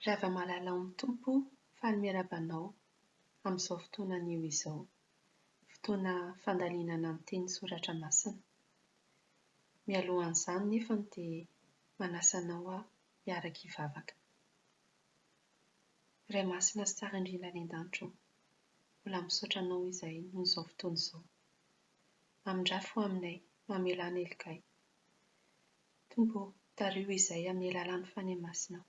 Ravamalala ao amin'ny Tompo fa ny miaraba anao amin'izao fotoana anio izao. Fotoana fandalinana ny teny soratra masina. Mialohan'izany nefany dia manasa anao aho hiaraka hivavaka. Ray masina sy tsara indrindra any an-danitra ô. Mbola misaotra anao izay noho izao fotoana izao. Mamindrafy ho aminay, mamela an'i Helgay. Tompo ô, tariho izay amin'ny alalan'ny Fanahy Masinao.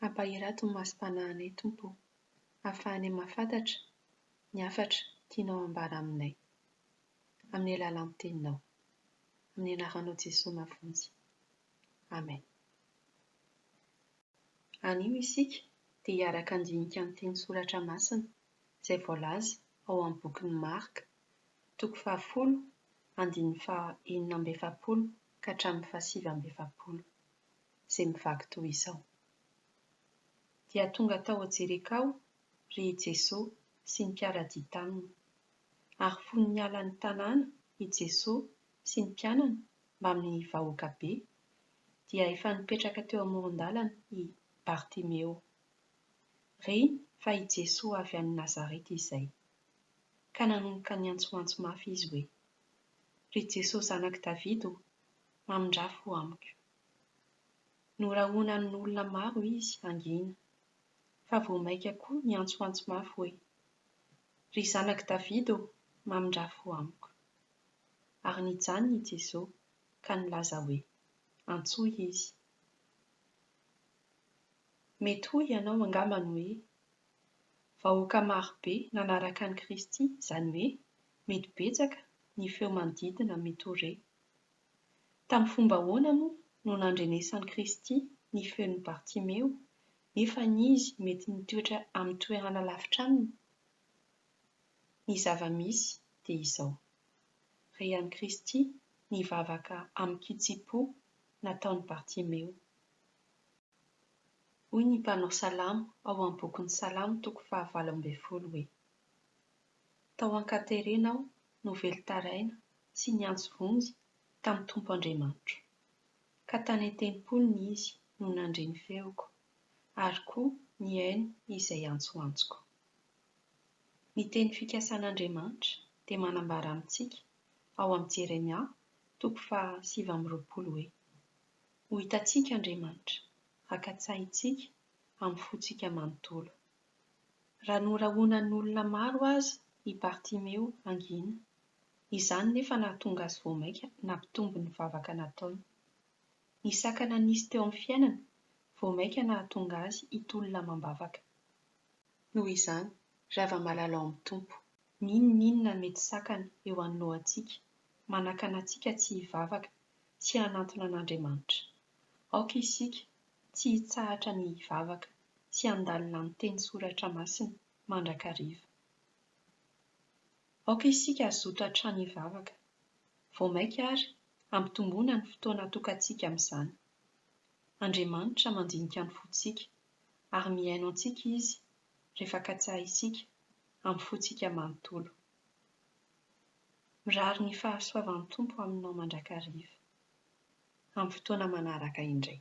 Ampahirato ny masom-panahinay, Tompo ô, hahafahanay mahafantatra ny hafatra tianao hambara aminay, amin'ny alalan'ny Teninao. Amin'ny Anaranao Jesoa Mavonjy. Amen. Anio isika dia hiaraka handinika ny teny soratra masina izay voalaza ao amin'ny bokin'i Marka, toko fahafolo, andininy faha enina amby efapolo ka hatramin'ny faha sivy amby efapolo, izay mivaky toy izao, Dia tonga tao Jerikao ry i Jesoa sy ny mpiara-dia taminy. Ary fony niala ny tanàna i Jesoa sy ny mpianany mbamin'ny vahoaka be, dia efa nipetraka teo amoron-dalana i Bartimeo. Re fa i Jesoa avy any Nazareta izay. Ka nanomboka niantsoantso mafy izy hoe, Ry Jesoa zanak'i Davida o, mamindrafo amiko. Norahonanin'olona maro izy hangina, fa vao maika koa niantsoantso mafy hoe, Ry zanak'i Davida o, mamindrafo amiko. Ary nijanona i Jesoa ka nilaza hoe, Antsoy izy. Mety hoy ianao angambany hoe, Vahoaka maro be nanaraka an'i Kristy, izany hoe, mety betsaka ny feo manodidina Mitore. Tamin'ny fomba ahoana moa no nandrenesan'i Kristy ny feon'i Bartimeo, nefa izy mety nitoetra amin'ny toerana lavitra aminy? Ny zava-misy dia izao. re an'i Kristy nivavaka amin'ny kitsim-po nataon'i Bartimeo. Hoy ny mpanao salamo ao amin'ny bokin'ny Salamo toko fahavalo ambin'ny folo hoe, Tao an-katerena aho no velon-taraina sy niantso vonjy tamin'ny Tompo Andriamanitro, ka tany an-tempoliny Izy no nandre ny feoko, ary koa nihaino izay antsoantsoko. Ny teny fikasan'Andriamanitra dia manambara amintsika ao amin'ny Jeremia toko faha sivy amby roapolo hoe, Ho hitantsika Andriamanitra, haka-tsahintsika amin'ny fontsika manontolo. Raha norahonan'olona maro aza i Bartimeo hangina, izany nefa nahatonga azy vao mainka nampitombo ny vavaka nataony. Ny sakana nisy teo amin'ny fiainany vao mainka nahatonga azy hitolona amam-bavaka. Noho izany, ry hava-malala ao amin'ny Tompo, n'inon'inona mety sakana eo anoloantsika, manakana antsika tsy hivavaka sy hanantona an'Andriamanitra. Aoka isika tsy hitsahatra ny hivavaka sy handalina ny teny soratra masina mandrakariva. Aoka isika hazoto hatrany hivavaka. Vao mainka àry hampitomboana ny fotoana atokantsika amin'izany. Andriamanitra mandinika ny fontsika ary mihaino antsika Izy rehefa katsaha isika amin'ny fontsika manontolo. Mirary ny fahasoavan'ny Tompo aminao mandrakariva. Amin'ny fotoana manaraka indray.